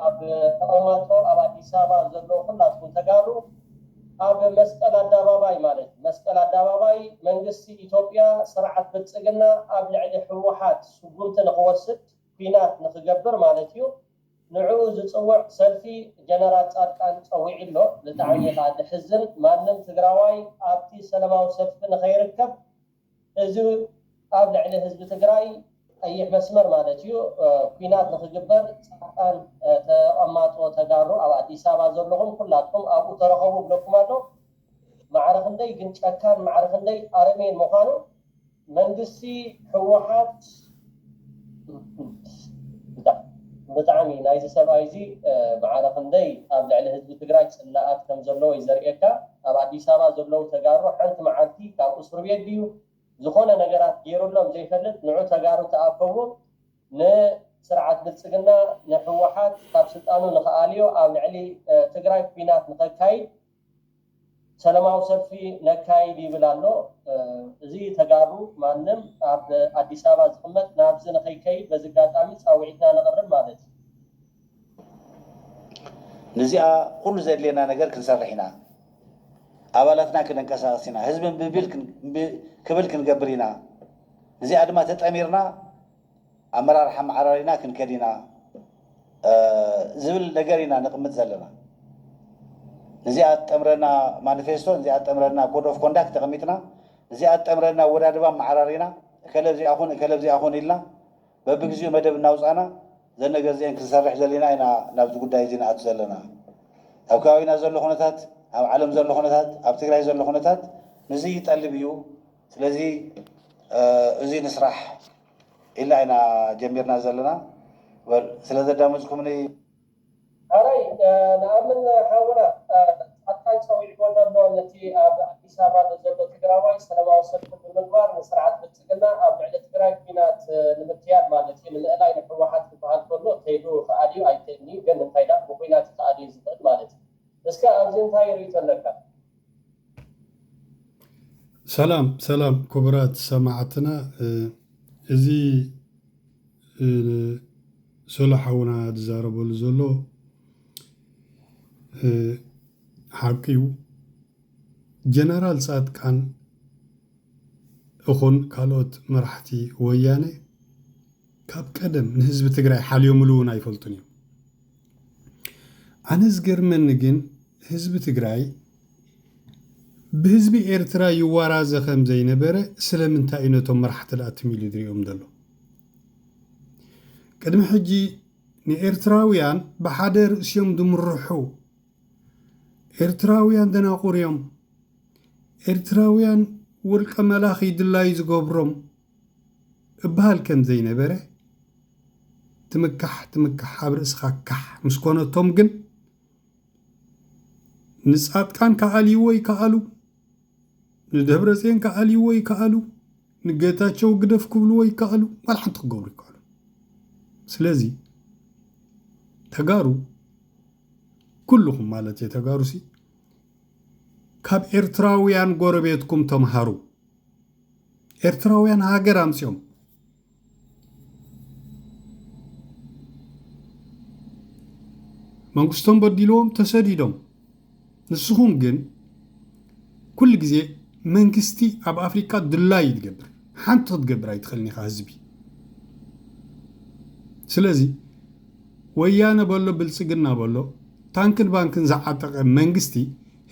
ኣብ ተቐማጦ ኣብ ኣዲስ ኣበባ ዘለዉ ኩላትኩም ተጋሩ ኣብ መስቀል ኣዳባባይ ማለት መስቀል ኣዳባባይ መንግስቲ ኢትዮጵያ ስርዓት ብልፅግና ኣብ ልዕሊ ህወሓት ስጉምቲ ንኽወስድ ኲናት ንኽገብር ማለት እዩ ንዕኡ ዝፅውዕ ሰልፊ ጀነራል ፃድቃን ፀዊዑ ኣሎ ብጣዕሚ ኻዓ ደሕዝን ማንም ትግራዋይ ኣብቲ ሰለማዊ ሰልፊ ንኸይርከብ እዚ ኣብ ልዕሊ ህዝቢ ትግራይ ቀይሕ መስመር ማለት እዩ ኩናት ንክግበር ፃድቃን ተቀማጦ ተጋሩ ኣብ ኣዲስ ኣበባ ዘለኹም ኩላትኩም ኣብኡ ተረኸቡ ብለኩም ኣሎ ማዕረ ክንደይ ግን ጨካን ማዕረ ክንደይ ኣረሜን ምዃኑ መንግስቲ ህወሓት ብጣዕሚ ናይዚ ሰብኣይ እዚ ማዕረ ክንደይ ኣብ ልዕሊ ህዝቢ ትግራይ ፅላኣት ከም ዘለዎ እዩ ዘርእየካ ኣብ ኣዲስ ኣበባ ዘለዉ ተጋሩ ሓንቲ ማዓልቲ ካብ እሱር ቤት ድዩ ዝኮነ ነገራት ገይሩሎም ዘይፈልጥ ንዑ ተጋሩ ተኣከቡ ን ስርዓት ብልፅግና ን ህወሓት ካብ ስልጣኑ ንክኣልዮ ኣብ ልዕሊ ትግራይ ኩናት ንከካይድ ሰለማዊ ሰልፊ ነካይድ ይብል ኣሎ እዚ ተጋሩ ማንም ኣብ ኣዲስ ኣበባ ዝቅመጥ ናብዚ ንክይከይድ በዚ ኣጋጣሚ ፃዊዒትና ነቅርብ ማለት እዩ። ንዚኣ ኩሉ ዘድልየና ነገር ክንሰርሕ ኢና ኣባላትና ክነንቀሳቅስ ኢና ህዝቢ እምቢ ክብል ክንገብር ኢና ንዚኣ ድማ ተጠሚርና ኣመራርሓ ኣመዓራሪና ክንከድ ኢና ዝብል ነገር ኢና ነቕምጥ ዘለና። ንዚኣ ትጠምረና ማኒፌስቶ፣ ንዚኣ ትጠምረና ኮድ ኦፍ ኮንዳክት ተቐሚጥና፣ ንዚኣ ትጠምረና ኣወዳድባ ኣመዓራሪና፣ እከለ ኣብዚኣ ኩን እከለ ኣብዚኣ ኩን ኢልና በብግዚኡ መደብ እናውጻእና እዘን ነገር እዚኤን ክንሰርሕ ደሊና ኢና ናብዚ ጉዳይ እዚ ንኣቱ ዘለና። ኣብ ከባቢና ዘሎ ኩነታት፣ ኣብ ዓለም ዘሎ ኩነታት፣ ኣብ ትግራይ ዘሎ ኩነታት ንዚ ይጠልብ እዩ። ስለዚ እዙይ ንስራሕ ኢልና ኢና ጀሚርና ዘለና ወል ስለ ዘዳመፅኩምኒ ሐራይ ንኣምን ሓውና ፃድቃን ፀዊዕዎ ኣሎ ኣሎ ነቲ ኣብ ኣዲስ ኣበባ ንዘሎ ትግራዋይ ሰለማዊ ሰልፊ ብምግባር ንስርዓት ብልፅግና ኣብ ልዕሊ ትግራይ ኩናት ንምክያድ ማለት እዩ ንምእላይ ንሕወሓት ክበሃል ከሎ ከይዱ ይክኣል እዩ ኣይክእልንዩ ግን እንታይ ዳኣ ብኩናት ይክኣል እዩ ዝክእል ማለት እዩ እስከ ኣብዚ እንታይ ሪኢቶ ኣለካ? ሰላም ሰላም ክቡራት ሰማዕትና እዚ ሶሎ ሓውና ዝዛረበሉ ዘሎ ሓቂ እዩ ጀነራል ፃድቃን እኹን ካልኦት መራሕቲ ወያነ ካብ ቀደም ንህዝቢ ትግራይ ሓልዮምሉ እውን ኣይፈልጡን እዮም። ኣነ ዝገርመኒ ግን ህዝቢ ትግራይ ብህዝቢ ኤርትራ ይዋራዘ ከም ዘይነበረ ስለምንታይ እዩ ነቶም መራሕቲ ደኣ ትም ኢሉ ዝሪኦም ዘሎ? ቅድሚ ሕጂ ንኤርትራውያን ብሓደ ርእሲ እዮም ዝምርሑ። ኤርትራውያን ደናቑር እዮም። ኤርትራውያን ውልቀ መላኺ ድላዩ ዝገብሮም እብሃል ከም ዘይነበረ ትምካሕ ትምካሕ ኣብ ርእስኻ ካሕ ምስ ኮነቶም ግን ንጻድቃን ክኣልይዎ ይክኣሉ ንደብረጼን ክኣልይዎ ይክኣሉ ንገታቸው ግደፍ ክብልዎ ይክኣሉ ዋላ ሓንቲ ክገብሩ ይክኣሉ ስለዚ ተጋሩ ኩልኹም ማለት እየ ተጋሩሲ ካብ ኤርትራውያን ጎረቤትኩም ተምሃሩ ኤርትራውያን ሃገር ኣምጺኦም መንግስቶም በዲልዎም ተሰዲዶም ንስኹም ግን ኩሉ ግዜ መንግስቲ ኣብ ኣፍሪቃ ድላይ እዩ ዝገብር ሓንቲ ክትገብር ኣይትኽእልን ኢኻ ህዝቢ ስለዚ ወያነ በሎ ብልፅግና በሎ ታንክን ባንክን ዝዓጠቐ መንግስቲ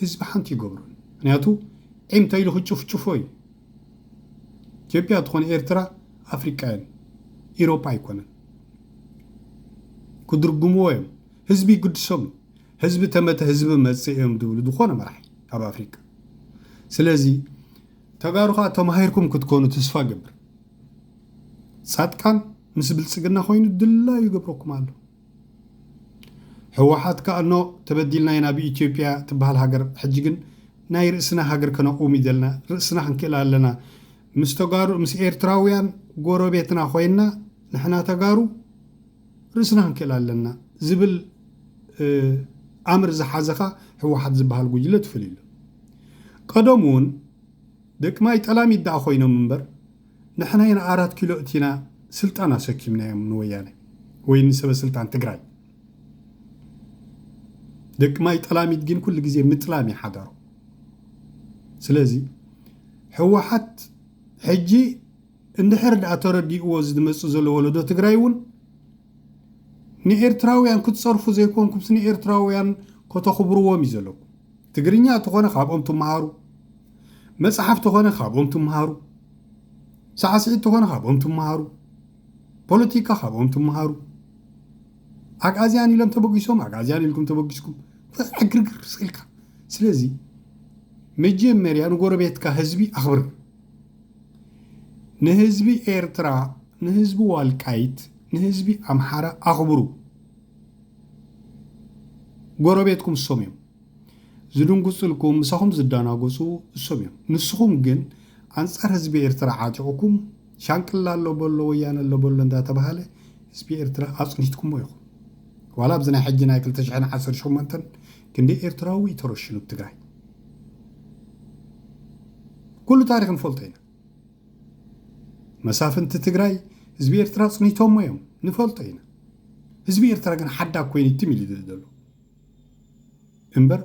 ህዝቢ ሓንቲ ይገብሮን ምክንያቱ ዒም ተኢሉ ክጭፍጭፎ እዩ ኢትዮጵያ ትኾነ ኤርትራ ኣፍሪቃ እየን ኢሮጳ ኣይኮነን ክድርግምዎ እዮም ህዝቢ ይግድሶም እዩ ህዝቢ ተመተ ህዝቢ መጽእ እዮም ድብሉ ዝኾነ መራሒ ኣብ ኣፍሪቃ ስለዚ ተጋሩ ከዓ ተማሂርኩም ክትኮኑ ተስፋ ገብር ጻጥቃን ምስ ብልጽግና ኮይኑ ድላዩ ይገብረኩም ኣሎ ህወሓት ክኣ እኖ ተበዲልና ኢና ብኢትዮጵያ ትብሃል ሃገር ሕጂ ግን ናይ ርእስና ሃገር ከነቁውም እዩ ዘለና ርእስና ክንክእል ኣለና ምስ ተጋሩ ምስ ኤርትራውያን ጎረቤትና ኮይና ንሕና ተጋሩ ርእስና ክንክእል ኣለና ዝብል ኣምር ዝሓዘኻ ህወሓት ዝበሃል ጉጅለ ትፍልይሉ ቀደም እውን ደቂ ማይ ጠላሚት ደኣ ኮይኖም እምበር ንሕናይ ንኣራት ኪሎ እቲና ስልጣን ኣሰኪምናዮም ንወያነ ወይ ንሰበ ስልጣን ትግራይ ደቂ ማይ ጠላሚት ግን ኩሉ ግዜ ምጥላም እዩ ሓዳሩ ስለዚ ሕወሓት ሕጂ እንድሕር ድኣ ተረዲእዎ ዝመፅእ ዘሎ ወለዶ ትግራይ እውን ንኤርትራውያን ክትፀርፉ ዘይኮንኩምስ ንኤርትራውያን ከተኽብርዎም እዩ ዘለኩም ትግርኛ ተኾነ ካብኦም ትመሃሩ፣ መጽሓፍ ተኾነ ካብኦም ትመሃሩ፣ ሳዕስዒት ተኾነ ካብኦም ትመሃሩ፣ ፖለቲካ ካብኦም ትመሃሩ። ኣግኣዝያን ኢሎም ተበጊሶም ኣግኣዝያን ኢልኩም ተበጊስኩም ዕግርግር ስኢልካ። ስለዚ መጀመርያ ንጎረቤትካ ህዝቢ ኣኽብር። ንህዝቢ ኤርትራ፣ ንህዝቢ ዋልቃይት፣ ንህዝቢ ኣምሓራ ኣኽብሩ። ጎረቤትኩም እሶም እዮም። ዝድንጉጽልኩም ምሳኹም ዝዳናጎጹ እሶም እዮም ንስኹም ግን ኣንጻር ህዝቢ ኤርትራ ዓጢቁኩም ሻንቅላ ኣሎ በሎ ወያነ ኣሎ በሎ እንዳተባሃለ ህዝቢ ኤርትራ ኣጽኒትኩሞ ኢኹም ዋላ ኣብዚ ናይ ሕጂ ናይ ክልተ ሽሕን ዓሰርተ ሸሞንተን ክንደይ ኤርትራዊ እዩ ተረሽኑ ኣብ ትግራይ ኩሉ ታሪክ ንፈልጦ ኢና መሳፍንቲ ትግራይ ህዝቢ ኤርትራ ኣጽኒቶሞ እዮም ንፈልጦ ኢና ህዝቢ ኤርትራ ግን ሓዳግ ኮይኑ ትም ኢሉ ዘሎ እምበር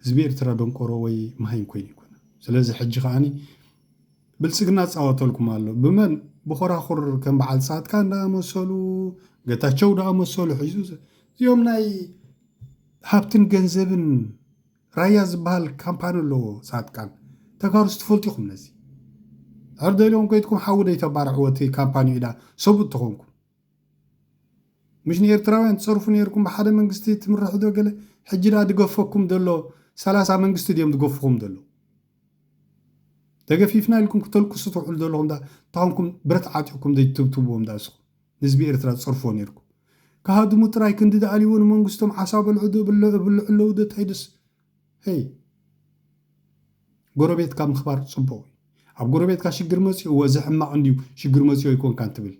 ህዝቢ ኤርትራ ደንቆሮ ወይ መሃይም ኮይኑ ኣይኮነን ስለዚ ሕጂ ከኣ ብልጽግና ጻወተልኩም ኣሎ ብመን ብኾራኹር ከም በዓል ጻድቃን ደኣ መሰሉ ገታቸው ደኣ መሰሉ ሒዙ እዚኦም ናይ ሃብትን ገንዘብን ራያ ዝበሃል ካምፓኒ ኣለዎ ጻድቃን ተጋሩስ ትፈልጡ ኢኹም ነዚ ሕርደልኦም ኮይትኩም ሓዊ ደይተባርዕዎ እቲ ካምፓኒ ኢዳ ሰብኡት ተኾንኩም ምሽ ንኤርትራውያን ትጸርፉ ኔርኩም ብሓደ መንግስቲ ትምርሑ ዶ ገለ ሕጂ ድኣ ድገፈኩም ደሎ ሰላሳ መንግስቲ ድዮም ድገፉኹም ደሎ ተገፊፍና ኢልኩም ክተልቅሱ ትውዕሉ ደለኹም ድኣ እንታኾንኩም ብረት ዓጢቕኩም ዘይትትብትብዎም ድኣ ንስኹም ንህዝቢ ኤርትራ ትጸርፍዎ ኔርኩም ክሃድሙ ጥራይ ክንዲ ድኣልይዎ ንመንግስቶም ዓሳ በልዑ ዶ እብልዑ ኣለዉ ዶ ታይ ደስ ሄይ ጎረቤትካ ምኽባር ፅቡቕ እዩ ኣብ ጎረቤትካ ሽግር መፂኡዎ እዚ ሕማቕ እንድዩ ሽግር መፂኦ ኣይኮንካን ትብል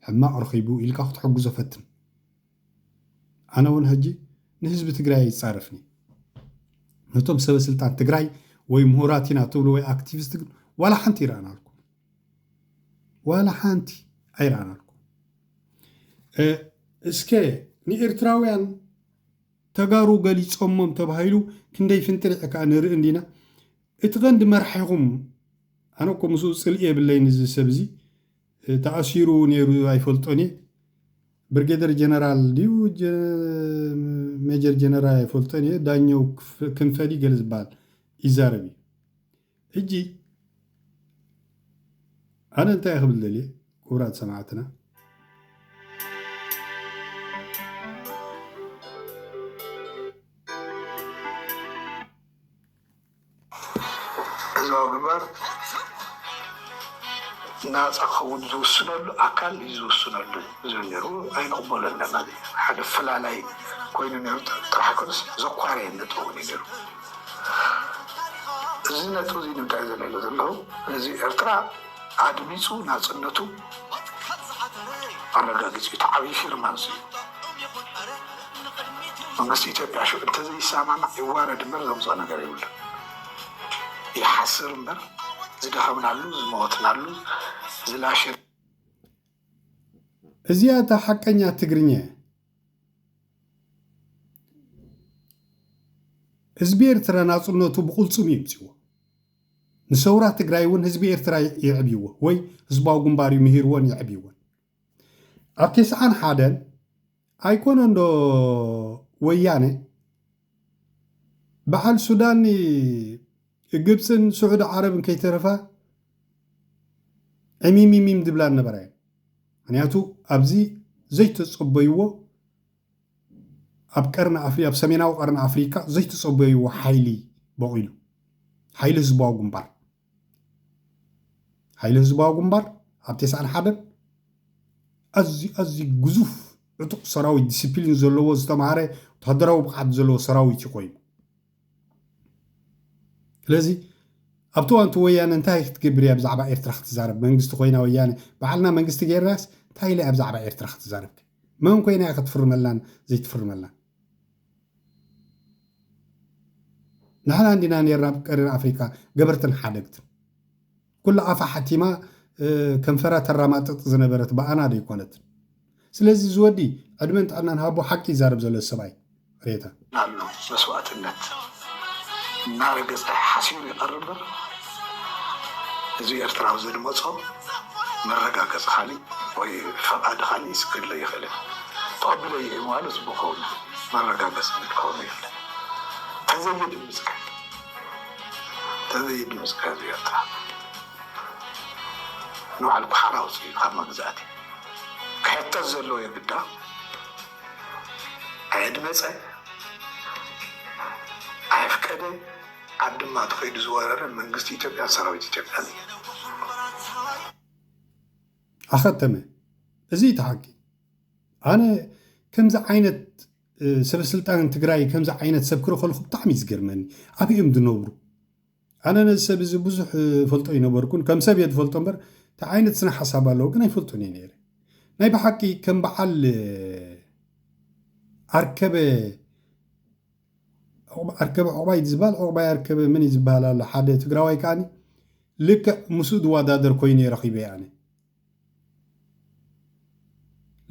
ሕማቕ ረኺቡ ኢልካ ክትሕግዞ ፈትን ኣነ እውን ሕጂ ንህዝቢ ትግራይ ኣይፃረፍን እየ ነቶም ሰበ ስልጣን ትግራይ ወይ ምሁራት ኢና ትብሉ ወይ ኣክቲቪስት ግን ዋላ ሓንቲ ይረኣናልኩም ዋላ ሓንቲ ኣይረኣናልኩም እስከ ንኤርትራውያን ተጋሩ ገሊጾሞም ተባሂሉ ክንደይ ፍንጥሪዕ እካ ንርኢ እንዲና እቲ ቀንዲ መራሒኹም ኣነ እኮ ምስኡ ጽልኢ የብለይን እዚ ሰብ እዚ ተኣሲሩ ነይሩ ኣይፈልጦን እየ ብርጌደር ጀነራል ድዩ ሜጀር ጀነራል ኣይፈልጦን እየ ዳኘው ክንፈ ድዩ ገለ ዝበሃል ይዛረብ እዩ ሕጂ ኣነ እንታይ እየ ክብል ደልየ ክቡራት ሰማዕትና ህዝባዊ ግንባር ናፃ ክኸውን ዝውስነሉ ኣካል እዩ ዝውስነሉ ዝብል ነይሩ ኣይንቕበሎን ኢና ማለት እዩ ሓደ ፈላላይ ኮይኑ ነይሩ ጥራሕ ኣይኮነስ ዘኳረየ ነጥቢ እውን እዩ ነይሩ እዚ ነጥቢ እዚ ንምንታይ እዩ ዘልዕሎ ዘለኹ ህዝቢ ኤርትራ ኣድሚጹ ናጽነቱ ኣረጋጊጹ እዩ። እቲ ዓብይ ፊርማ እዚ እዩ። መንግስቲ ኢትዮጵያ ሽዑ እንተዘይሰማማዕ ይዋረድ እምበር ዘምጽኦ ነገር የብሉን። ይሓስር እምበር ዝደኸምናሉ፣ ዝሞትናሉ፣ ዝላሸ እዚኣ እታ ሓቀኛ ትግርኛ እያ። ህዝቢ ኤርትራ ናጽነቱ ብቕልጽሙ የምጺዎ። ንሰውራ ትግራይ እውን ህዝቢ ኤርትራ የዕብይዎ ወይ ህዝባዊ ግንባር እዩ ምሂርዎን የዕብይዎን። ኣብ ቴስዓን ሓደን ኣይኮነንዶ ወያነ በዓል ሱዳን ግብፅን ስዑዲ ዓረብን ከይተረፋ ዕሚሚሚም ድብላ ነበራ እየን ምክንያቱ ኣብዚ ዘይተፀበይዎ ኣብ ቀርኒ ኣፍሪ ኣብ ሰሜናዊ ቀርኒ ኣፍሪካ ዘይተፀበይዎ ሓይሊ በቂሉ ሓይሊ ህዝባዊ ግንባር ሓይሊ ህዝባዊ ግንባር ኣብ ቴስዓን ሓደን ኣዝዩ ኣዝዩ ግዙፍ ዕጡቕ ሰራዊት ዲስፕሊን ዘለዎ ዝተምሃረ ወታደራዊ ብቕዓት ዘለዎ ሰራዊት እዩ ኮይኑ ስለዚ ኣብቲ እዋንቲ ወያነ እንታይ ክትገብር እያ ብዛዕባ ኤርትራ ክትዛረብ መንግስቲ ኮይና ወያነ በዓልና መንግስቲ ገይርናስ እንታይ ኢለ እያ ብዛዕባ ኤርትራ ክትዛረብ መን ኮይና እያ ክትፍርመላን ዘይትፍርመላን ንሕና እንዲና ኔርና ኣብ ቀሪን ኣፍሪቃ ገበርትን ሓደግትን። ኩላ ኣፋ ሓቲማ ከንፈራ ተራማጥጥ ዝነበረት ብኣና ደይኮነት። ስለዚ እዚ ወዲ ዕድመን ጥዕናን ሃቦ ሓቂ ይዛረብ ዘሎ እዚ ሰብኣይ ሬታ። ኣሎ መስዋእትነት እናረገጸ ሓሲሩ ይቐርብ እምበር ህዝቢ ኤርትራ ኣብ ዘድመጾ መረጋገጺ ካሊእ ወይ ፈቓዲ ካሊእ ይስገድለይ ኣይኽእልን። ተቐቢለዮ እየ ምባሉ ጽቡቕ ክኸውን ይኽእል እዩ፣ መረጋገጺ ግን ክኸውን የብሉን። ተዘይድምጽ ግን ተዘይድምጽ ግን ህዝቢ ኤርትራ ንባዕሉ ኩሓራ ኣውጺኡ ካብ መግዛእቲ ክሕተት ዘለዎ የግዳ። ኣየድመጸ ኣየፍቀደ ኣብ ድማ ተኸይዱ ዝወረረ መንግስቲ ኢትዮጵያን ሰራዊት ኢትዮጵያን እዩ። ኣኸተመ እዚ እዩ እቲ ሓቂ ኣነ ከምዚ ዓይነት ሰበስልጣን ትግራይ ከምዚ ዓይነት ሰብ ክረኸልኩ ብጣዕሚ እዩ ዝገርመኒ ኣበይ እዮም ዝነብሩ ኣነ ነዚ ሰብ እዚ ብዙሕ እፈልጦ ኣይነበርኩን፣ ከም ሰብ እየ ዝፈልጦ እምበር እንታይ ዓይነት ስነ ሓሳብ ኣለዎ ግን ኣይፈልጦን እየ ነይረ። ናይ ብሓቂ ከም በዓል ኣርከበ ኣርከበ ዑቕባይ ዝበሃል ዑቕባይ ኣርከበ መን እዩ ዝበሃል ኣሎ ሓደ ትግራዋይ ከዓኒ ልክዕ ምስኡ ዝወዳደር ኮይኑ ረኺበ ኣነ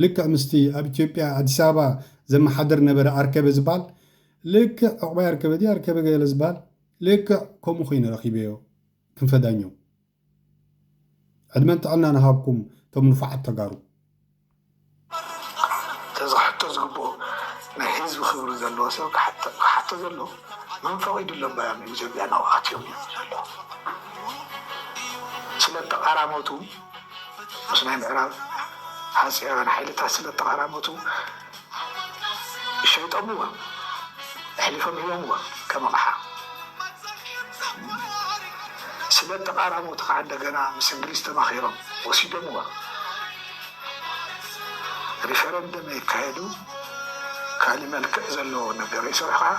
ልክዕ ምስቲ ኣብ ኢትዮጵያ ኣዲስ ኣበባ ዘመሓድር ነበረ ኣርከበ ዝብሃል ልክዕ ዑቕባይ ኣርከበ ድዩ ኣርከበ ገለ ዝብሃል ልክዕ ከምኡ ኮይነ ረኺበዮ ክንፈ ዳኘው ዕድመን ጥዕናን እሃብኩም እቶም ንፉዓት ተጋሩ። ተዚ ክሕቶ ዝግብኦ ናይ ህዝቢ ክብሪ ዘለዎ ሰብ ክሓቶ ዘለዎ መን ፈቂድሎም ባዮም ኢዩ ኢትዮጵያ ናብኡ ኣትዮም ኢዩ ዘሎ ስለ ተቃራመቱ ምስ ናይ ምዕራብ ሃጸያውያን ሓይልታት ስለ ተቃራመቱ ሸይጦምዎ ኣሕሊፎም ሂቦምዎ ከም ኣቕሓ ስለ ተቃራመቱ ከዓ እንደገና ምስ እንግሊዝ ተማኺሮም ወሲዶምዎ ሪፈረንደም የካየዱ ካሊእ መልክዕ ዘለዎ ነገር ይስርሑ ካዓ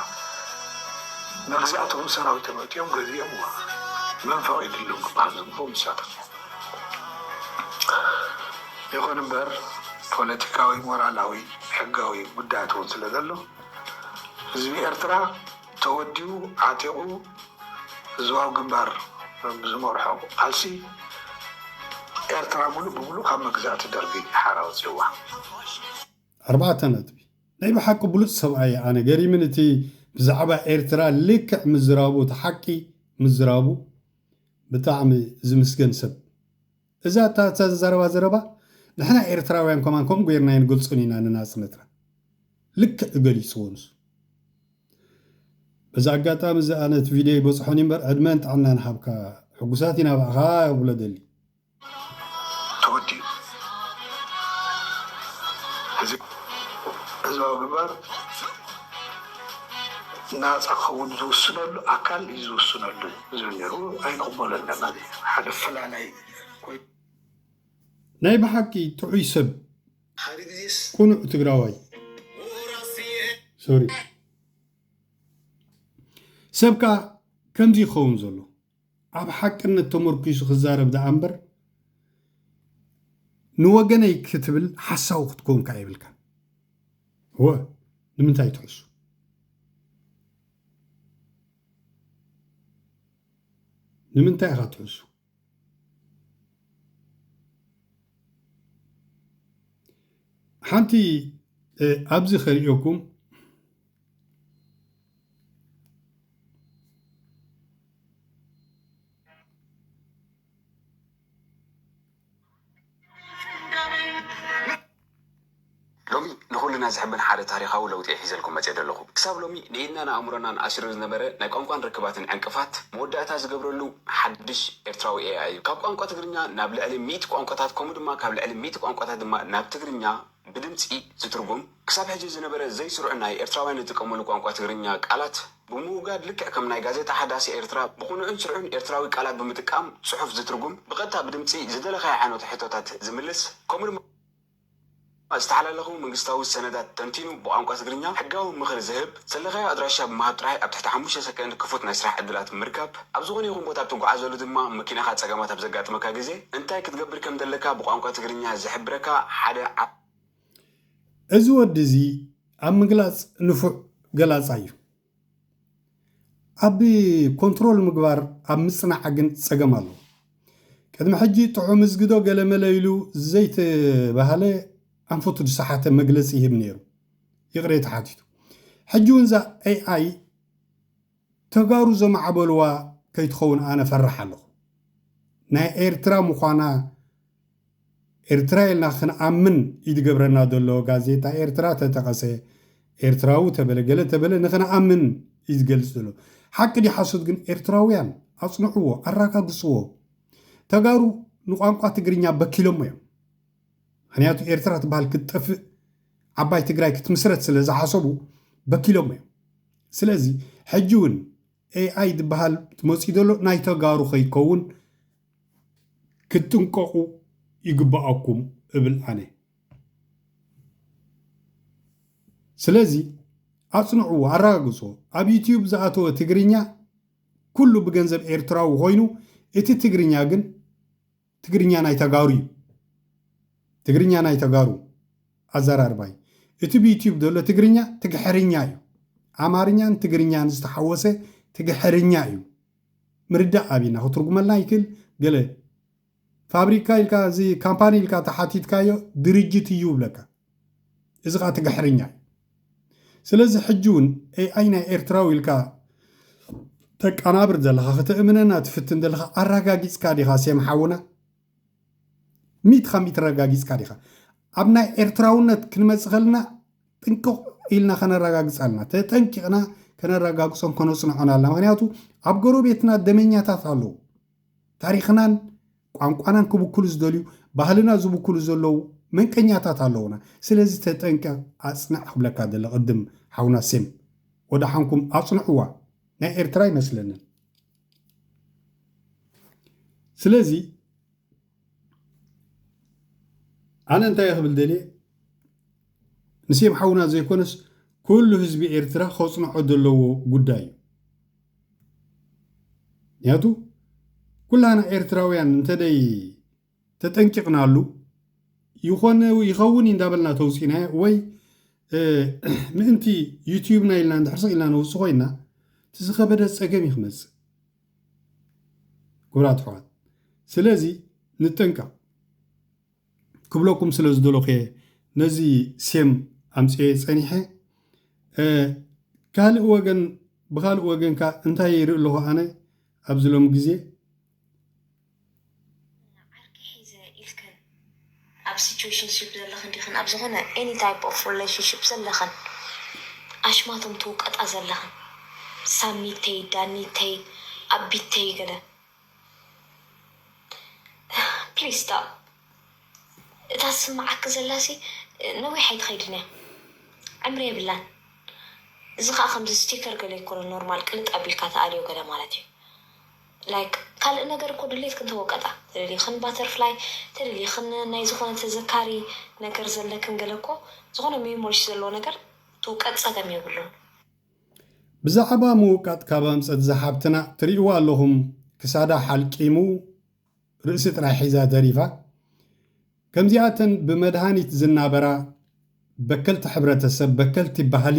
መግዛእቶም ሰራዊቶም ኣእትዮም ገዚኦምዋ መን ፈቂድሎም ክባሃል ዝግብኦ ንሳቶም እዮም ይኩን እምበር ፖለቲካዊ ሞራላዊ ሕጋዊ ጉዳያት እውን ስለዘሎ ህዝቢ ኤርትራ ተወዲቡ ዓጢቑ ህዝባዊ ግንባር ብዝመርሖ ቃልሲ ኤርትራ ምሉእ ብምሉእ ካብ መግዛእቲ ደርጊ ሓራ ኣውጺእዋ። ኣርባዕተ ነጥቢ። ናይ ብሓቂ ብሉጽ ሰብኣይ እየ ኣነ ገሪምኒ እቲ ብዛዕባ ኤርትራ ልክዕ ምዝራቡ እቲ ሓቂ ምዝራቡ ብጣዕሚ ዝምስገን ሰብ። እዛ እታ እተዛረባ ዘረባ ንሕና ኤርትራውያን ከማን ከምኡ ገይርና ኣይንገልጾን ኢና ንናጽነትና ልክዕ ገሊጽዎ ንሱ በዚ ኣጋጣሚ እዚ ኣነ እቲ ቪድዮ ይበጽሖን እዩ እምበር ዕድመን ጥዕናን ሃብካ ሕጉሳት ኢና ብኣኻ ክብሎ ደሊ ተወዲኡ እዚ ህዝባዊ ግንባር ናጻ ክኸውን ዝውስነሉ ኣካል እዩ ዝውስነሉ ህዝቢ ኔሩ ኣይቅበሎን ለማኒ እዩ ሓደ ፈላላይ ኮይኑ። ናይ ብሓቂ ጥዑይ ሰብ ቁኑዕ ትግራዋይ ሶሪ ሰብ ከኣ ከምዚ ይኸውን ዘሎ ኣብ ሓቅነት ተመርኪሱ ክዛረብ ደኣ እምበር ንወገነይ ክትብል ሓሳዊ ክትከውን ከኣ የብልካን እወ ንምንታይ ትሕሱ ንምንታይ ኢኻ ትሕሱ? ሓንቲ ኣብዚ ከርእየኩም ሎሚ ንኹልና ዝሕብን ሓደ ታሪኻዊ ለውጢ'የ ሒዘልኩም መጺኤ ዘለኹ። ክሳብ ሎሚ ንኢድናን ኣእምሮናን ኣሲሩ ዝነበረ ናይ ቋንቋን ርክባትን ዕንቅፋት መወዳእታ ዝገብረሉ ሓድሽ ኤርትራዊ ኤኣይ'ዩ። ካብ ቋንቋ ትግርኛ ናብ ልዕሊ ሚእቲ ቋንቋታት ከምኡ ድማ ካብ ልዕሊ ሚእቲ ቋንቋታት ድማ ናብ ትግርኛ ብድምጺ ዝትርጉም፣ ክሳብ ሕጂ ዝነበረ ዘይስሩዕ ናይ ኤርትራውያን ዝጥቀሙሉ ቋንቋ ትግርኛ ቃላት ብምውጋድ ልክዕ ከም ናይ ጋዜጣ ሓዳስ ኤርትራ ብቕኑዕን ስርዑን ኤርትራዊ ቃላት ብምጥቃም ጽሑፍ ዝትርጉም ብቐጥታ ብድምጺ ዝደለኻዮ ዓይነቱ ሕቶታት ዝምልስ ከምኡ ድማ ዝተሓላለኹ መንግስታዊ ሰነዳት ተንቲኑ ብቋንቋ ትግርኛ ሕጋዊ ምኽሪ ዝህብ ዘልኻዮ ኣድራሻ ብምሃብ ጥራይ ኣብ ትሕቲ ሓሙሽተ ሰከንድ ክፉት ናይ ስራሕ ዕድላት ምርካብ ኣብ ዝኾነ ይኹን ቦታ ኣብ ትጉዓዘሉ ድማ መኪናኻ ጸገማት ኣብ ዘጋጥመካ ግዜ እንታይ ክትገብር ከምዘለካ ብቋንቋ ትግርኛ ዝሕብረካ ሓደ እዚ ወዲ እዚ ኣብ ምግላጽ ንፉዕ ገላጻይ እዩ። ኣብ ኮንትሮል ምግባር ኣብ ምጽናዕ ግን ጸገም ኣለዎ። ቅድሚ ሕጂ ጥዑም እዝግዶ ገለመለ ኢሉ ዘይተባህለ ኣንፈቱ ዝሰሓተ መግለጺ ይህብ ነይሩ ይቕሬታ ሓቲቱ። ሕጂ እውን እዛ AI ተጋሩ ዘማዕበልዋ ከይትኸውን ኣነ እፈርሕ ኣለኹ። ናይ ኤርትራ ምዃና ኤርትራ ኢልና ክንኣምን እዩ ዝገብረና ዘሎ ጋዜጣ ኤርትራ ተጠቐሰ ኤርትራዊ ተበለ ገለ ተበለ ንኽንኣምን እዩ ዝገልጽ ዘሎ ሓቂ ድዩ ሓሶት ግን ኤርትራውያን ኣጽንዕዎ ኣራጋግጽዎ ተጋሩ ንቋንቋ ትግርኛ በኪሎሞ እዮም ምክንያቱ ኤርትራ ትበሃል ክትጠፍእ ዓባይ ትግራይ ክትምስረት ስለ ዝሓሰቡ በኪሎሞ እዮም ስለዚ ሕጂ ውን AI ዝባሃል መጽዩ ዘሎ ናይ ተጋሩ ከይከውን ክትጥንቀቁ ይግባኣኩም እብል ኣነ። ስለዚ ኣጽንዕዎ ኣረጋግጽዎ ኣብ ዩቱብ ዝኣተወ ትግርኛ ኩሉ ብገንዘብ ኤርትራዊ ኮይኑ እቲ ትግርኛ ግን ትግርኛ ናይ ተጋሩ እዩ ትግርኛ ናይ ተጋሩ ኣዘራርባ እዩ እቲ ብዩትዩብ ዘሎ ትግርኛ ትግሕርኛ እዩ ኣማርኛን ትግርኛን ዝተሓወሰ ትግሕርኛ እዩ ምርዳእ ኣብና ክትርጉመልና ይክእል ገለ ፋብሪካ ኢልካ እዚ ካምፓኒ ኢልካ ተሓቲትካዮ ድርጅት እዩ ብለካ እዚ ከኣ ትግሕርኛ እዩ ስለዚ ሕጂ ውን AI ናይ ኤርትራዊ ኢልካ ተቃናብር ዘለኻ ከተእምነና ትፍትን ዘለኻ ኣራጋጊጽካ ዲኻ ሴም ሓውና ሚት ካብ ሚት ረጋጊጽካ ዲኻ ኣብ ናይ ኤርትራውነት ክንመጽእ ከለና ጥንቅቕ ኢልና ከነረጋግጽ ኣለና ተጠንቂቕና ከነረጋግጾን ከነጽንዖን ኣለና ምክንያቱ ኣብ ጎረቤትና ደመኛታት ኣለዉ ታሪኽናን ቋንቋናን ክብክሉ ዝደልዩ ባህልና ዝብክሉ ዘለዉ መንቀኛታት ኣለዉና ስለዚ ተጠንቀቅ ኣጽንዕ ክብለካ ደለ ቅድም ሓውና ሴም ወደሓንኩም ኣጽንዕዋ ናይ ኤርትራ ኣይመስለንን ስለዚ ኣነ እንታይ እየ ክብል ደልየ ንሴም ሓውና ዘይኮነስ ኩሉ ህዝቢ ኤርትራ ከፅንዖ ዘለዎ ጉዳይ እዩ ምክንያቱ ኩላና ኤርትራውያን እንተደይ ተጠንቂቕናሉ ይኾነ ይኸውን እንዳበልና ተውፂና ወይ ምእንቲ ዩትዩብና ኢልና እንድሕርሰ ኢልና ነውፅ ኮይና እቲ ዝኸበደ ፀገም እዩ ክመፅእ ክቡራት ኣሕዋት ስለዚ ንጠንቀቕ ክብለኩም ስለ ዝደለኹ እየ ነዚ ሴም ኣምፅኤ ፀኒሐ ካልእ ወገን ብካልእ ወገን ከዓ እንታይ ይርኢ ኣለኹ ኣነ ኣብዚ ሎሚ ግዜ ዓርኪ ሒዘ ኢልክን ኣብ ሲቹዌሽንሺፕ ዘለኽን ዲኽን ኣብ ዝኾነ ኤኒ ታይፕ ኦፍ ሪሌሽንሺፕ ዘለኽን ኣሽማቶም ትውቀጣ ዘለኽን ሳሚተይ ዳኒተይ ኣቢተይ ገለ ፕሊስ ስቶፕ እታ ትስምዓኪ ዘላሲ ነዊሕ ኣይትኸይድን እያ ዕምሪ የብላን እዚ ከዓ ከምዚ ስቲከር ገለ ይኮነ ኖርማል ቅልጥ ኣቢልካ ትኣልዮ ገለ ማለት እዩ ላይክ ካልእ ነገር እኮ ድሌትክን ተወቀጣ ተደሊክን ባተርፍላይ ተደሊክን ናይ ዝኮነ ተዘካሪ ነገር ዘለክን ገለ እኮ ዝኮነ ሜሞሪስ ዘለዎ ነገር ትውቀጥ ጸገም የብሉን። ብዛዕባ ምውቃጥ ካብ ኣምጸት እዛ ሓብትና ትሪእዋ ኣለኹም ክሳዳ ሓልቂሙ ርእሲ ጥራይ ሒዛ ተሪፋ ከምዚኣተን ብመድሃኒት ዝናበራ በከልቲ ሕብረተሰብ በከልቲ ባህሊ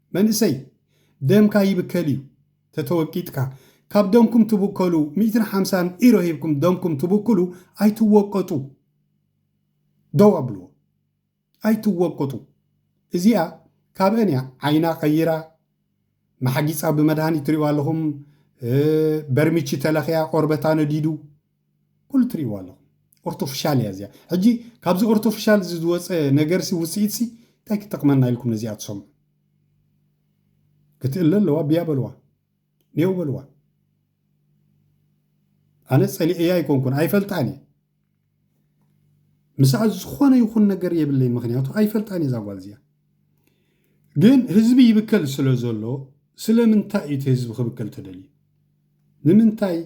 መንእሰይ ደምካ ይብከል እዩ ተተወቂጥካ ካብ ደምኩም ትብከሉ ሚእትን ሓምሳን ኢሮ ሂብኩም ደምኩም ትብክሉ ኣይትወቀጡ ደው ኣብልዎ ኣይትወቀጡ እዚኣ ካብአን እያ ዓይና ቀይራ ማሕጊፃ ብመድሃኒት ትሪእዋ ኣለኹም በርሚቺ ተለኽያ ቆርበታ ነዲዱ ኩሉ ትሪእዎ ኣለኹም ኦርቶፍሻል እያ እዚኣ ሕጂ ካብዚ ኦርቶፍሻል እዚ ዝወፀ ነገርሲ ውፅኢትሲ እንታይ ክጠቕመና ኢልኩም ነዚኣ ትሰምዑ ክትእለ ኣለዋ ብያ በልዋ ኔው በልዋ ኣነ ፀሊዐያ ኣይኮንኩን ኣይፈልጣን እየ ምስኣ ዝኾነ ይኹን ነገር የብለይ ምክንያቱ ኣይፈልጣን እየ ዛጓል እዚኣ ግን ህዝቢ ይብከል ስለ ዘሎ ስለምንታይ እቲ ህዝቢ ክብከል ተደልዩ ንምንታይ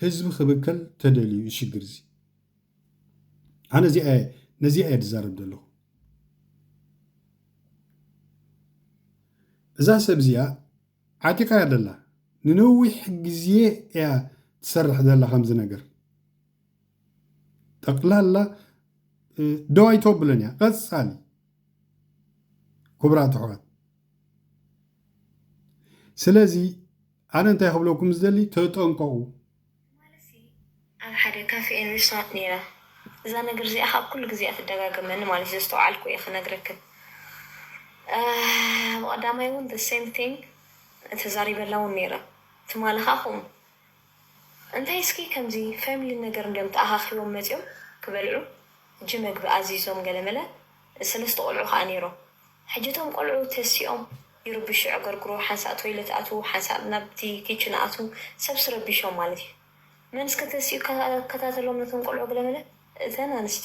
ህዝቢ ክብከል ተደልዩ እዩ ሽግር እዚ ኣነ እዚኣ ነዚኣ እየ ዝዛረብ ዘለኹ እዛ ሰብ እዚኣ ዓጢቃ እያ ዘላ ንነዊሕ ግዜ እያ ትሰርሕ ዘላ ከምዚ ነገር ጠቅላላ ደው ኣይተብለን እያ ቀፃሊ ክቡራት ኣሕዋት ስለዚ ኣነ እንታይ ክብለኩም ዝደሊ ተጠንቀቁ። ንማለሲ ኣብ ሓደ ካፌ ኤን ሪስቶራንት ነይረ እዛ ነገር እዚኣ ከኣ ኩሉ ግዜ እያ ትደጋገመኒ ማለት እዩ ዘስተውዓልኩ እየ ክነግረክን እብ ቀዳማይ ውን the same thing ተዛሪበላ ውን ነይረ ትማሊ ከኣ ከምኡ እንታይ እስኪ ከምዚ family ነገር እንድዮም ተኣኻኺቦም መጽዮም ክበልዑ ሕጂ መግቢ ኣዚዞም ገለመለ ሰለስተ ቆልዑ ከኣ ነይሮም። ሕጂ እቶም ቆልዑ ተሲኦም ይርብሹ የዕገርግሩ፣ ሓንሳእ ቶይለት ኣትዉ፣ ሓንሳእ ናብቲ ኪችነ ኣትዉ፣ ሰብስ ረቢሾም ማለት እዩ። መን እስከ ተሲኡ ክከታተሎም ነቶም ቆልዑ ገለመለ? እተን ኣንስቲ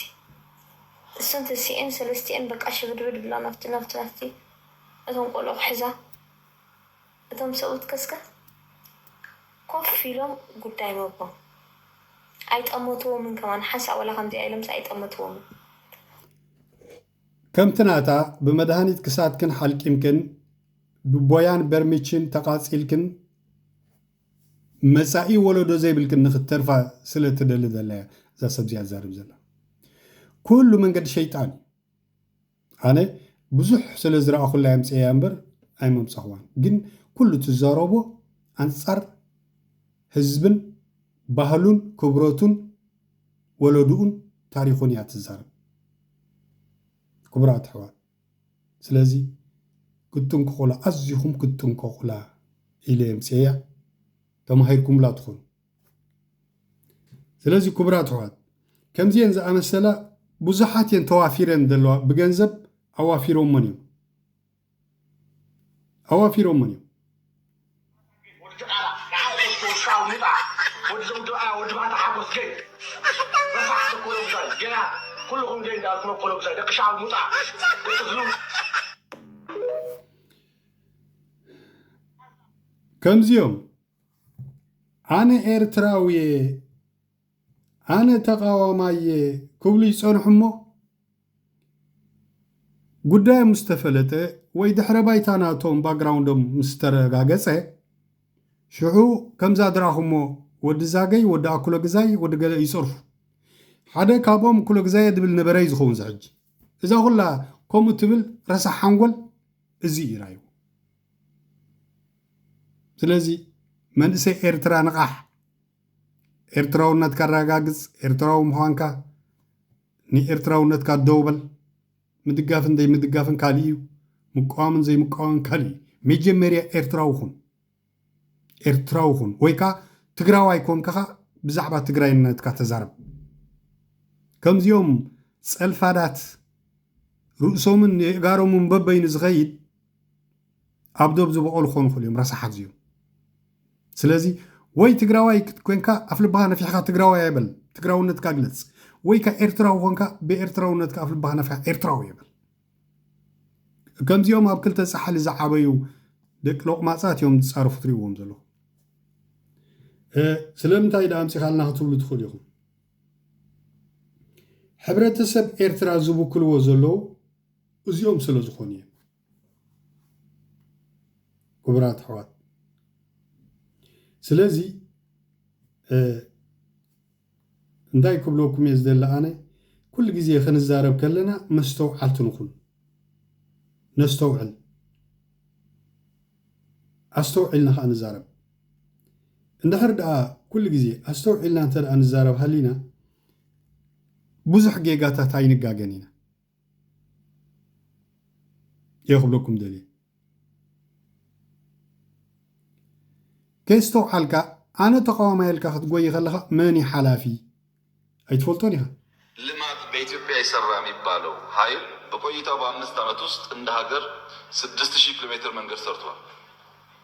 እሰን ተሲኤን ሰለስቲኤን በቃ ሽብድብድ ብላ ናብቲ ናብቲ ናብቲ እቶም ቆልዑ ክሕዛ። እቶም ሰብኡት ከስከ ኮፍ ኢሎም ጉዳይ መጎም ኣይጠመትዎምን ከማን ሓንሳእ ወላ ከምዚኣ ኢሎምስ ኣይጠመትዎምን። ከምቲ ናታ ብመድሃኒት ክሳድክን ሓልቂምክን ብቦያን በርሚችን ተቓጺልክን መጻኢ ወለዶ ዘይብልክን ንክትተርፋ ስለ ትደሊ ዘላ እያ እዛ ሰብ እዚኣ ትዛረብ ዘላ ኩሉ መንገዲ ሸይጣን እዩ። ኣነ ብዙሕ ስለ ዝረኣኹላ የምጽኤያ እምበር ኣይመምጻኹዋን ግን ኩሉ ትዛረቦ ኣንጻር ህዝብን ባህሉን ክብረቱን ወለድኡን ታሪኹን እያ ትዛረብ ክቡራት ኣሕዋት ስለዚ ክትጥንቀቑላ ኣዚኹም ክትጥንቀቑላ ኢለ የምጽኤያ ተማሂርኩምላ ትኾኑ ስለዚ ክቡራት ኣሕዋት ከምዚኤን ዝኣመሰላ ብዙሓት እየን ተዋፊረን ዘለዋ ብገንዘብ ኣዋፊሮሞን እዮም ኣዋፊሮሞን እዮም ከምዚኦም ኣነ ኤርትራዊየ ኣነ ተቓዋማይየ ክብሉ ይጸንሑ እሞ ጉዳዮም ምስ ተፈለጠ ወይ ድሕረ ባይታ ናቶም ባግራውንዶም ምስ ተረጋገጸ ሽዑ ከምዛ ድራኹሞ ወዲ ዛገይ ወዲ ኣኩለግዛይ ወዲ ገለ ይጸርፉ ሓደ ካብኦም ኩለግዛየ ድብል ነበረ'ዩ ዝኸውን ዝሕጂ እዛ ኩላ ከምኡ ትብል ረሳሕ ሓንጎል እዚ እዩ ራይኡ ስለዚ መንእሰይ ኤርትራ ንቓሕ! ኤርትራውነትካ ኣረጋግጽ፣ ኤርትራዊ ምዃንካ ንኤርትራውነትካ ደው በል። ምድጋፍን ዘይምድጋፍን ካልእ እዩ፣ ምቅዋምን ዘይምቅዋምን ካልእ እዩ። መጀመርያ ኤርትራዊ ኹን፣ ኤርትራዊ ኹን ወይ ከኣ ትግራዋይ ኮንካ ኸኣ ብዛዕባ ትግራይነትካ ተዛረብ። ከምዚኦም ጸልፋዳት ርእሶምን የእጋሮምን በበይኑ ዝኸይድ ኣብ ዶብ ዝበቆሉ ክኾኑ ይኽእሉ እዮም ረሳሓት እዚኦም ስለዚ ወይ ትግራዋይ ኮንካ ኣፍ ልብኻ ነፊሕካ ትግራዋይ ኣይበል ትግራውነትካ ግለፅ ወይ ከ ኤርትራዊ ኮንካ ብኤርትራውነትካ ኣፍ ልብኻ ነፊሕካ ኤርትራዊ ይበል ከምዚኦም ኣብ ክልተ ፃሕሊ ዝዓበዩ ደቂ ሎቕማፃት እዮም ዝፃረፉ ትሪእዎም ዘለኹ ስለምንታይ ዳ ኣምፂኻልና ክትብሉ ትኽእሉ ኢኹም ሕብረተሰብ ኤርትራ ዝብክልዎ ዘለዉ እዚኦም ስለ ዝኾኑ እዮም ክቡራት ኣሕዋት ስለዚ እንታይ ክብለኩም እየ ዝደሊ ኣነ ኩሉ ግዜ ክንዛረብ ከለና መስተውዓልቲ ንኹን ነስተውዕል ኣስተውዒልና ከዓ ንዛረብ እንድሕር ደኣ ኩሉ ግዜ ኣስተውዒልና እንተ ንዛረብ ሃሊና ብዙሕ ጌጋታት ኣይንጋገን ኢና እየ ክብለኩም ደልየ ከየስተውዓልካ ኣነ ተቃዋማይ ኢልካ ክትጎይ ከለኻ መን እዩ ሓላፊ ኣይትፈልጦን ኢኻ። ልማት በኢትዮጵያ አይሰራም ይባለው ሀይል በቆይታው በአምስት አመት ውስጥ እንደ ሀገር ስድስት ሺህ ኪሎ ሜትር መንገድ ሰርቷል።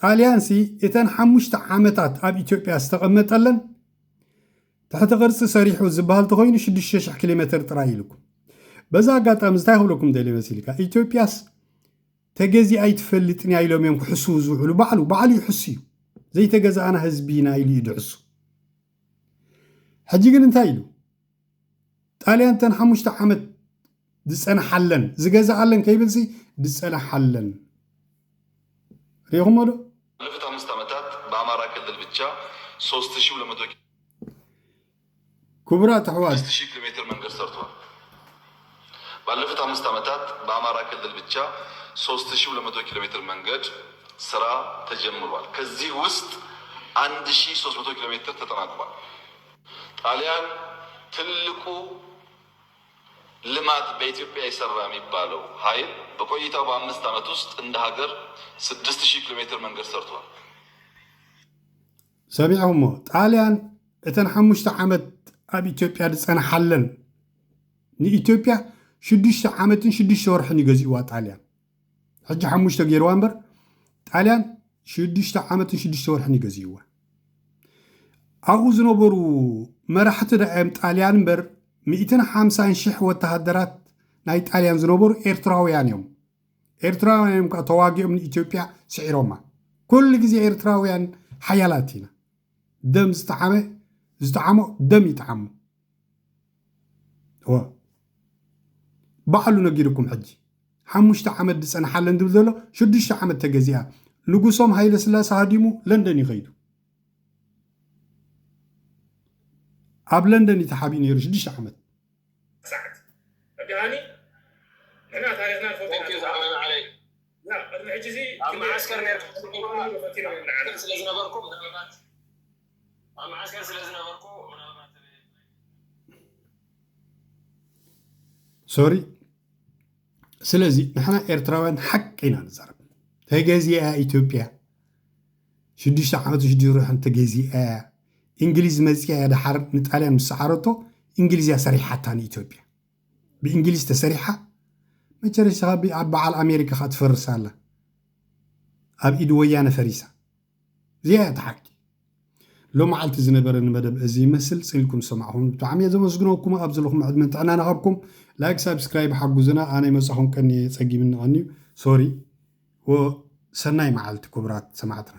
ጣልያንሲ እተን ሓሙሽተ ዓመታት ኣብ ኢትዮጵያ ዝተቐመጠለን ትሕቲ ቅርፂ ሰሪሑ ዝበሃል ተኾይኑ ሽዱሽተ ሽሕ ኪሎ ሜትር ጥራይ እዩ ኢልኩም። በዚ ኣጋጣሚ እንታይ ክብለኩም ደልየ መሲልካ ኢትዮጵያስ ተገዚኣ ኣይትፈልጥን እያ ኢሎም እዮም ክሕስዉ ዝውዕሉ ባዕሉ ባዕሉ ይሕሱ እዩ ዘይተገዛእና ህዝቢ ኢና ኢሉ እዩ ድሕሱ ሕጂ ግን እንታይ ኢሉ ጣልያን ተን ሓሙሽተ ዓመት ዝጸንሓለን ዝገዝኣለን ከይብልሲ ዝጸንሓለን ሪኢኹሞ ዶ? ባለፉት ኣምስት ዓመታት ብኣማራ ክልል ብቻ ሶስት ሺ ሁለት መቶ ክቡራት ኣሕዋት ስድስት ሺ ኪሎሜትር መንገድ ሰርቷል። ባለፉት ኣምስት ዓመታት ብኣማራ ክልል ብቻ ሶስት ሺ ሁለት መቶ ኪሎሜትር መንገድ ስራ ተጀምሯል። ከዚህ ውስጥ አንድ ሺ ሶስት መቶ ኪሎሜትር ተጠናቋል። ጣሊያን ትልቁ ልማት በኢትዮጵያ የሰራ የሚባለው ሀይል በቆይታው በአምስት አመት ውስጥ እንደ ሀገር ስድስት ሺህ ኪሎ ሜትር መንገድ ሰርቷል። ሰሚዕኹሞ ጣልያን እተን ሓሙሽተ ዓመት ኣብ ኢትዮጵያ ዝፀንሓለን ንኢትዮጵያ ሽዱሽተ ዓመትን ሽዱሽተ ወርሕን እዩ ገዚእዋ ጣልያን ሕጂ ሓሙሽተ ገይርዋ እምበር ጣልያን ሽዱሽተ ዓመትን ሽዱሽተ ወርሕን እዩ ገዚእዋ ኣብኡ ዝነበሩ መራሕቲ ዳእዮም ጣልያን እምበር ሚእትን ሓምሳን ሽሕ ወተሃደራት ናይ ጣልያን ዝነበሩ ኤርትራውያን እዮም ኤርትራውያን እዮም ከዓ ተዋጊኦም ንኢትዮጵያ ስዒሮማ ኩሉ ግዜ ኤርትራውያን ሓያላት ኢና ደም ዝጠዓመ ዝጠዓሞ ደም ይጠዓሙ እወ ባዕሉ ነጊሩኩም ሕጂ ሓሙሽተ ዓመት ድጸንሓለን ድብል ዘሎ ሽዱሽተ ዓመት ተገዚኣ ንጉሶም ሃይለ ስላሰ ሃዲሙ ለንደን እዩ ከይዱ ኣብ ለንደን እዩ ተሓቢኡ ነይሩ ሽዱሽተ ዓመት ሰዓት እዳኒ ንሕና ታሪኽና ንፈልጦ ኢና ኣብ መዓስከር ኔርኩም ስለ ዝነበርኩ ምናልባት ኣብ መዓስከር ስለ ዝነበርኩ ምናልባት ሶሪ ስለዚ ንሕና ኤርትራውያን ሓቂ ኢና ንዛረብ ተገዚኣ ኢትዮጵያ ሽዱሽተ ዓመት ሽዱሽተ ርሑን ተገዚኣ እያ እንግሊዝ መፅኣ እያ ድሓር ንጣልያን ምስ ሰዓረቶ እንግሊዝ እያ ሰሪሓታ ንኢትዮጵያ ብእንግሊዝ ተሰሪሓ መቸረሻ ብ ኣብ በዓል ኣሜሪካ ከኣ ትፈርስ ኣላ ኣብ ኢድ ወያነ ፈሪሳ እዚኣ እያ እታ ሓቂ። ሎማዓልቲ ዝነበረኒ መደብ እዚ ይመስል ጽልኩም ዝሰማዕኩምኒ ብጣዕሚ እየ ዘመስግነኩም ኣብ ዘለኩሞ ዕድመን ጥዕናን ይሃብኩም ላይክ ሳብስክራይብ ሓጉዙና ኣነ ይመጻኩም ቀንየ ጸጊምኒ ቀንዩ ሶሪ ወሰናይ መዓልቲ ኩቡራት ሰማዕትና።